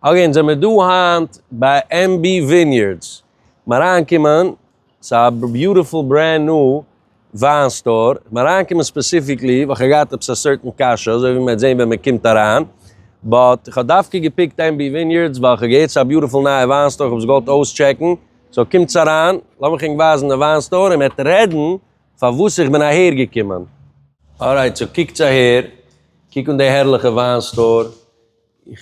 אגעין זעמיר דא היינט ביי MB Vineyards מען אריינקומען ס'א ביוטיפול ברענד ניו וויין סטאר, מען אריינקומען ספעסיפיקלי ווייל כ'האב געהאט עפעס א סערטען קשיא אזוי ווי מען וועט זעהן ווען מען קומט אריין, באט כ'האב דווקא געפיקט MB Vineyards ווייל כ'האב געהערט ס'א ביוטיפול נייע וויין סטאר כ'האב עס געוואלט אויסטשעקן, סאו קומטס אריין לאמיך ענק ווייזן די וויין סטאר און מען וועט רעדן פארוואס איך בין אהער געקומען. ארייט סאו קוקטס אהער, קוק אן די הערליכע וויין סטאר, איך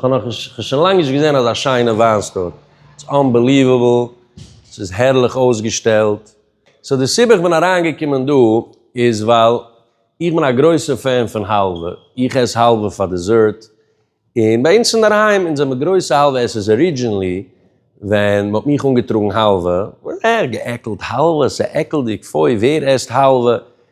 האב נאך שוין לאנג נישט געזען אזא שיינע וויין סטאר, איטס אנבעליוועבל, ס'איז הערליך אויסגעשטעלט, סאו די סיבה איך בין אריינגעקומען דא איז ווייל איך בין א גרויסע פען פון האלווע, איך עס האלווע פאר דיזערט, און ביי אונז אינדערהיים אונז זעמיר גרויסע האלווע עסערס, ארידזשינלי ווען מ'האט מיך אנגעטראגן האלווע, אה געעקלט האלווע ס'איז עקלדיג, פוי ווער עסט האלווע,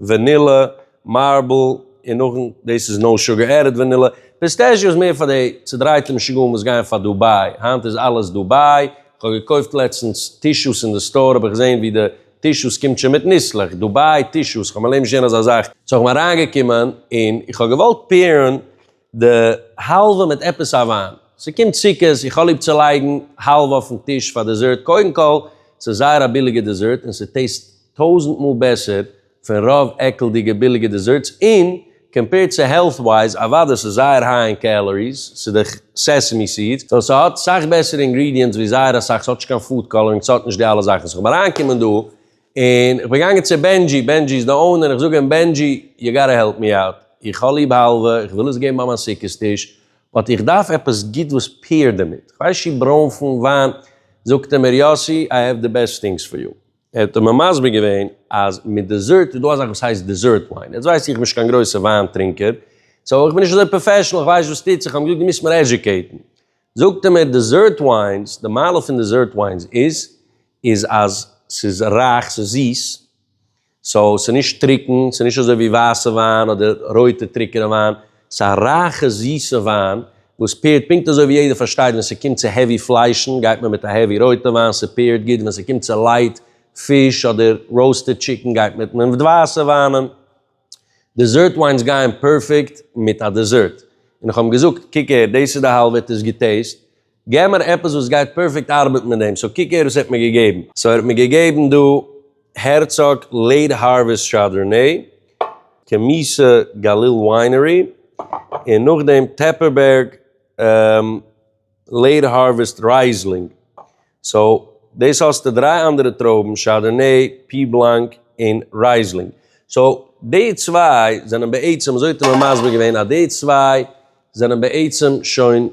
ווענילע, מארבל, און נאכן דאס איז נאו שוגער עדעד ווענילע. פיסטעשיאו איז מער פאר די צודרייטע משוגעים וואס גייען פאר דוביי, היינט איז אלעס דוביי, כ'האב געקויפט לעצטנס טישוס אין די סטאר האב איך געזען ווי די טישוס קומט שוין מיט ניסלעך, דוביי טישוס, כ'האב מיין לעבן נישט געזען אזא זאך, סאו כ'בין אריינגעקומען און איך האב געוואלט פעירן. די האלווע מיט עפעס א וויין. ס'קומט סוכות, איך האב ליב צו לייגן האלווע אויפן טיש פאר דעזערט, קודם כל ס'איז זייער א ביליגע דעזערט און ס'טעיסט טויזענט מאל בעסער פון רוב עקלדיגע ביליגע דעזערטס און קאמפעירד צו העלט ווייז, אוודאי ס'איז זייער היי אין קעלאריס, ס'איז דאך סעסעמי סידס, סאו ס'האט סאך בעסערע אינגרידיענטס ווי זייער אסאך, ס'האט נישט קיין פוד קאלארינג, ס'האט נישט די אלע זאכן, סאו כ'האב אריינגעקומען דא און איך בין געגאנגען צו בענדזשי, בענדזשי איז די אונער, איך זאג אים בענדזשי, יו גאטע העלפ מי אוט, איך האב ליב האלווע, איך וויל עס געבן ביי מיין סוכות טיש, באט איך דארף עפעס גוט וואס פעירט דערמיט, איך ווייס נישט ברוינפן, וויין, זאגט ער מיר יאסי, איי העוו די בעסט טינגס פאר יו. ער האט מיר מסביר געווען אז מיט דעזערט איז דא א זאך וואס הייסט דעזערט וויין, יעצט ווייס איך נישט קיין גרויסע וויין טרינקער, סאו איך בין נישט אזוי פראפעשענעל, איך ווייס נישט וואס טוט זיך, האט מיר געזאגט דו מוזט מיר עדזשוקעיטן, זאגט ער מיר דעזערט וויינס, די מעלה פון דעזערט וויינס איז, איז אז ס'איז רייך, ס'איז זיס, סאו ס'איז נישט טרוקן, ס'איז נישט אזוי ווי ווייסע וויין אדער רויטע טרוקענע וויין, ס'איז א רייכע זיסע וויין וואס פעירט, פונקט אזוי ווי יעדער פארשטייט ווען ס'קומט צו העווי פליישן גייט מען מיט א העווי רויטע וויין, ס'פעירט גוט ווען ס'קומט צו לייט פיש אדער ראוסטעד טשיקן גייט מען מיט ווייסע וויינען, דעזערט וויינס גייען פערפעקט מיט א דעזערט, און איך האב אים געזאגט קוק הער דאס איז די האלב עטס געטעיסט, געב מיר עפעס וואס גייט פערפעקט ארבעטן מיט דעם, סאו קוק הער וואס ער האט מיר געגעבן, סאו ער האט מיר געגעבן דא הערצאג לעיט הארוועסט שארדארנעי, קעמיסע גליל וויינערי, און נאכדעם טעפערבערג לעיט הארוועסט רייזלינג, סאו דאס האסטו דריי אנדערע טרויבן, שארדארנעי, פי בלאנק, און רייזלינג, סאו די צוויי זענען בעצם, אזוי האט ער מיר מסביר געווען, אז די צוויי זענען בעצם שוין.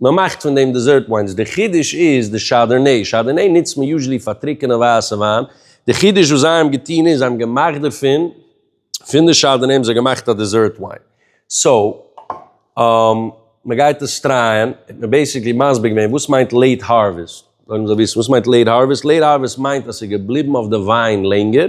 מען מאכט פון דעם דעזערט וויינס, די חידוש איז די שאדערנעי, שאדערנעי נוצט מען יוזשעלי פאר טרוקענע ווייסע וויין, די חידוש וואס זיי האבן געטון איז זיי האבן געמאכט דערפון, פון די שאדערנעי האבן זיי געמאכט א דעזערט וויין, סאו מען גייט עס טרייען, האט מען בעיסיקלי מסביר געווען וואס מיינט לעיט הארוועסט, זאלן זיי וויסן וואס מיינט לעיט הארוועסט, לעיט הארוועסט מיינט אז ס'איז געבליבן אויף די וויין לענגער,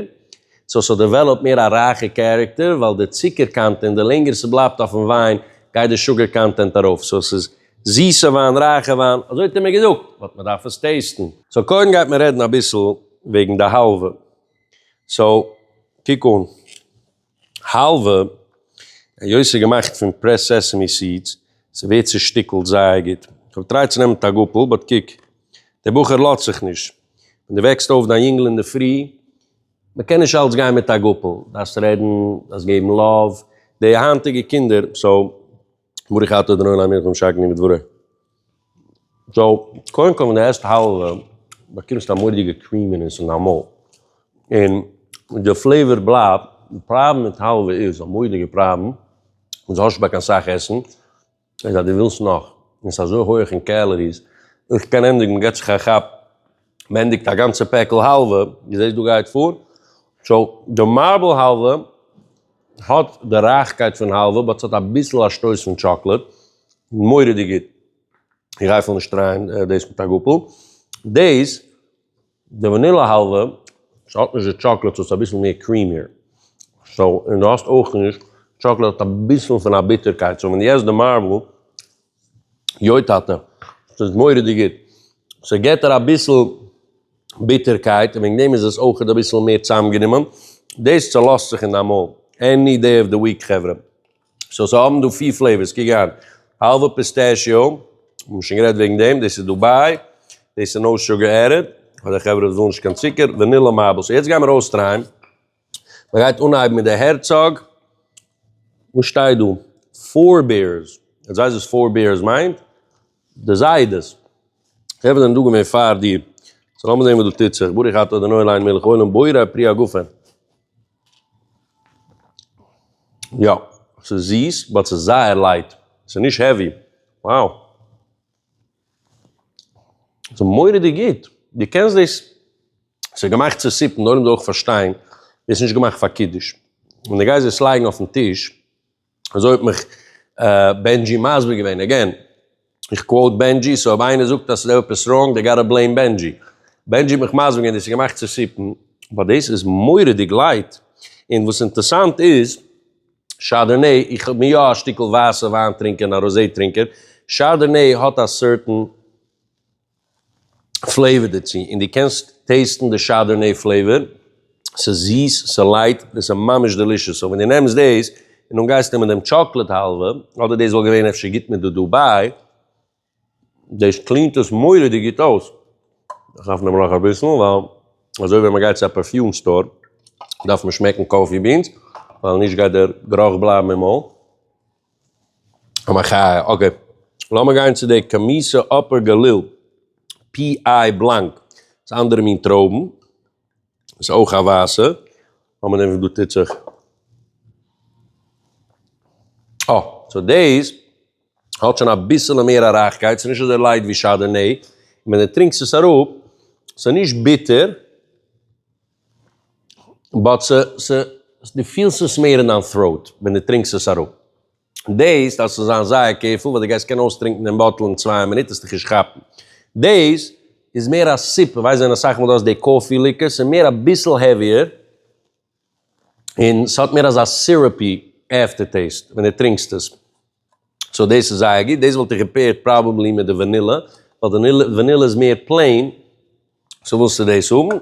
סאו ס'האט דעוועלאפט מער א רייכע קערעקטער, ווייל די צוקער קאנטענט, די לענגער ס'בלייבט אויפן וויין, גייט די שוגער קאנטענט ארויף, סאו עס איז זיסע וויין, רייכע וויין, אזוי האט ער מיר געזאגט, באט מ'דארף עס טעיסטן. סאו קודם גייט מען רעדן אביסל וועגן די האלווע, סאו קוק אן, האלווע, היות ס'איז געמאכט פון פרעסד סעסעמי סידס, ס'ווערט צושטיקלט זייער גוט, איך האב געטרייט צו נעמען טאגאפל, באט קוק, דער בחור לאזט זיך נישט, ווען דו וועקסט אויף דיין יונגל אינדערפרי, מ'קען נישט אלץ גיין מיט א גאפל, דארפסט רעדן, דארפסט געבן לאוו, די היינטיגע קינדער, סאו, ברוך אתה אדוני עולם מלך ומשענני בדברו, סאו, קודם כל ווען דו עסט האלווע באקומסטו א מורא'דיגע קרימינעס אין דיין מויל, און די פלעיוואר בלייבט, די פראבלעם מיט האלווע איז, א מורא'דיגע פראבלעם, איז האסט נישט ביי קיין סאך עסן, איז אז דו ווילסט נאך, און ס'איז אזוי הויעך אין קעלעריס, איך קען ענדיגן, מ'געט זיך א כאפ, מ'ענדיגט א גאנצע פעקל האלווע, דו זעסט דא גייט פאר, סאו די מארבל האלווע האט די רייכקייט פון האלווע באט ס'האט אביסל א שטויס פון טשאקלעד, מורא'דיג גוט, איך גיי אפילו נישט טרייען דאס מיט א גאפל, דאס. די וואנילע האלווע האט נישט די טשאקלעד סאו עס איז אביסל מער קרימיער, סאו און דו האסט אויך נישט, טשאקלעד האט אביסל פון א ביטערקייט, סאו ווען דו עסט די מארבל, יוי טאטע, עס איז מורא'דיג גוט, סאו געט דיר אביסל ביטערקייט און וועגן דעם איז עס אויך אביסל מער צוזאמגענומען, דאס צעלאזט זיך אין דיין מויל, עני דעי אוו די וויק חברה. סאו זיי האבן דא פיר פלעיווארס, קוק אהן, האלווע פיסטעשיאו, האבן מיר שוין גערעדט וועגן דעם, דאס איז דובאי, דאס איז נאו שוגער ערעב, פאר די חברה וואס ווילן נישט קיין צוקער, ווענילא מארבלס, יעצט גיימיר אויסטרייען, מען גייט אנהייבן מיט די הערצאג, וואס שטייט דא? פאר בערס, יעצט ווייסט וואס פאר בערס מיינט? די זיידעס, די חברה זענען דא געווען פאר דיר, סאו לאמיר זען וואס דא טוט זיך, ברוך אתה אדוני עולם מלך העולם בורא פרי הגפן. יא, ס'איז זיס, באט ס'איז זייער לייט, ס'איז נישט העווי. wow. ס'איז מורא'דיג גוט. דו קענסט דאס, ס'איז געמאכט צו סופן, נאר דו זאלסט אויך פארשטיין, דאס איז נישט געמאכט פאר קידוש. ווען דו גייסט דאס לייגן אויפן טיש. אזוי האט מיך בענדזשי מסביר געווען, אגעין איך קוואוט בענדזשי, סאו אויב איינער זאגט אז ס'איז עפעס ראנג דעי גאטא בלעים בענדזשי, בענדזשי האט מיך מסביר געווען דאס איז געמאכט צו סיפן, באט דאס איז מורא'דיג לייט, און וואס אינטערסאנט איז שארדערנעי, איך בין יא א שטיקל ווייסע וויין טרינקער און א ראזעי טרינקער, שארדערנעי האט א סערטען, פלעיווער דערצו און די קענסט טעיסטן די שאדערנעי פלעיווער ס'איז זיס ס'איז לייט און ס'איז ממש דעלישעס סאו ווען די נעמסט דאס און דאן גייסט נעמען דעם טשאקלעד האלווע אדער דאס וואלט געווען אפשר גוט מיט די דוביי דאס קלינט עס מוראדיג גוט אויס איך דארף נעמען נאך אביסל ווייל אזוי ווען מ'גייט צו א פערפיום סטאר דארף מען שמעקן קאפי בינס ווייל נישט גייט דער גערוך בלייבן אין מויל. א מחיה, אקעי לאמיר גיין צו די קאמיסע אפער גליל פי איי בלאנק, ס'איז אנדערע מין טרויבן, ס'איז אויך א ווייסע, לאמיר זען וואס דא טוט זיך, אה, סאו דאס האט שוין אביסעלע מער א רייכקייט, ס'איז נישט אזוי לייט ווי שאדערנעי, און ווען די טרינקסט עס אראפ, ס'איז נישט ביטער, באט ס' ס' דו פילסט עס מער אין דיין throat ווען דו טרינקסט עס אראפ. דעיס דארפסטו זיין זייער קעירפול ווייל דו גייסט קענען אויסטרינקן דעם באטל אין צוויי מינוט העסטו נישט כאפן. דעיס איז מער א סיפ, איך ווייס ווען אסאך מאל דו האסט די קאפי ליקער ס'איז מער אביסל העוויער און ס'האט מער אזא סיראפי עפטער טעיסט ווען דו טרינקסט עס. סאו דאס איז זייער גוט, דאס וואלט איך געפעירד פראבעבלי מיט די ווענילע, ווייל די ווענילע איז מער פלעין, סאו ווילסטו דאס האבן?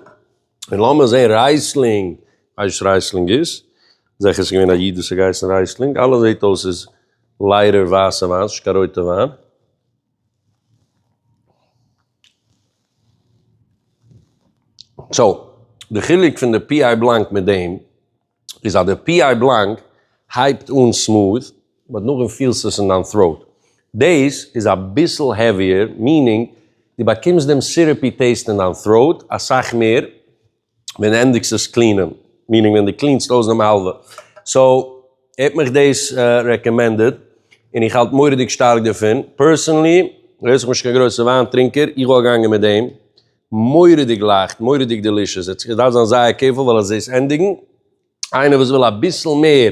און לאמיר זעהן רייסלינג, כ'ווייס נישט וואס רייסלינג איז, זעכער ס'איז געווען א איד וואס האט געהייסן רייסלינג, אלעס זעהט אויס איז ליידער ווייסע וויין, ס'איז נישט קיין רויטע וויין. סאו, די חילוק פון די פי איי בלאנק מיט דעם. איז אז די פי איי בלאנק הייבט אן סמאד באט נאכדעם פילסטו עס אין דיין טראוט. דעיס איז אביסל העוויער מינינג די באקומסט דעם סירופי טעיסט אין דיין טראוט אסאך מער ווען די ענדיגסט עס קלינען מינינג ווען די קלינסט אויס דעם האלווע סאו האט מיך דעיס רעקאמענדעד אין איך האלט מוראדיג שטארק דערפון פערסענלי היות איך בין נישט קיין גרויסע וויין טרינקער איך וואלט געגאנגען מיט דעם מורא'דיג לייכט, מורא'דיג דעלישעס, עס דארף זיין זייער קעירפול ווייל עס דאס ענדיגן, איינער וואס וויל אביסל מער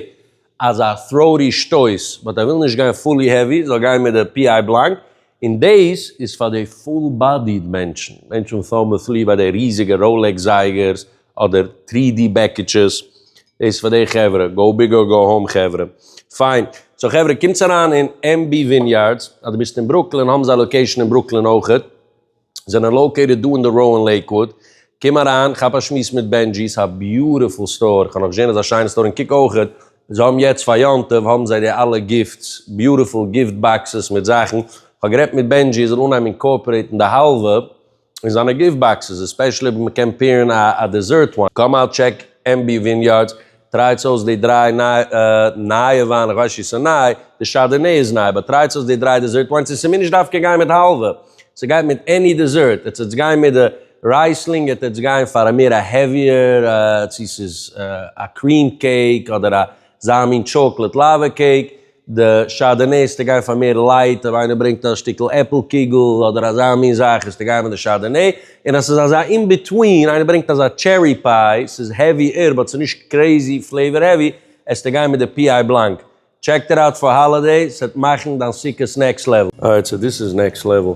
אזא throaty שטויס באט ער וויל נישט גיין פולי העווי זאל גיין מיט די פי איי בלאנק, און דאס איז פאר די פול באדיד מענטשן, מענטשן וואס האבן א תלי' ביי די ריזיגע ראלעקס זייגערס אדער טרי די בעקיטשעס, דאס איז פאר די חברה, גאו ביג אר גאו האום חברה, פיין, סאו חברה קומטס אריין אין MB וויניארדס, אז דו ביסט אין ברוקלין האבן זיי לאקעישן אין ברוקלין אויכעט. זענען לאוקעיטעד דא אין די ראו אין לעיקוואוד, קום אריין כאפ א שמועס מיט בענדזשי, ס'איז א ביוטיפול סטאר, כ'האב נאך נישט געזען אזא שיינע סטאר, און קוק אויכעט, זיי האבן יעצט פאר יום טוב האבן זיי די אלע גיפטס, ביוטיפול גיפט באקסעס מיט זאכן, כ'האב גערעדט מיט בענדזשי ער זאל אנהייבן אינקארפערעיטן די האלווע אין זיינע גיפט באקסעס, עספעשעלי אויב מ'קען פעירן א דעזערט וויין. קאם אוט טשעק עמבי וויניארדס, טרייטס אויס די דריי נייע וויין, איך ווייס שוין ס'איז ניי, די שאדערנעי איז ניי, באט טרייטס אויס די דריי דעזערט וויינס און ס'מוז נישט דווקא גיין מיט האלווע, ס'גייט מיט עני דעזערט, עטס עטס גיין מיט די רייסלינג, עטס עטס גיין פאר א מער א העוויער, צו ס'איז א קריעם קעיק אדער אזא מין טשאקלעט לאווע קעיק, די שאדערנער ס'טע גיין פאר מער לייט, אויב איינער ברענגט א שטיקל עפל קיגל אדער אזא מין זאך איז ס'טע גיין מיט די שאדערנער, און אז ס'איז אזא אין ביטווין איינער ברענגט אזא טשערי פיי ס'איז העווי ער באט ס'איז נישט קרעזי פלעיווער העווי עס טע גיין מיט די פי איי בלאנק, טשעק איט אוט פאר האלידעי ס'עט מאכן דיין סוכות נעקסט לעוועל. אוי צו דאס איז נעקסט לעוועל.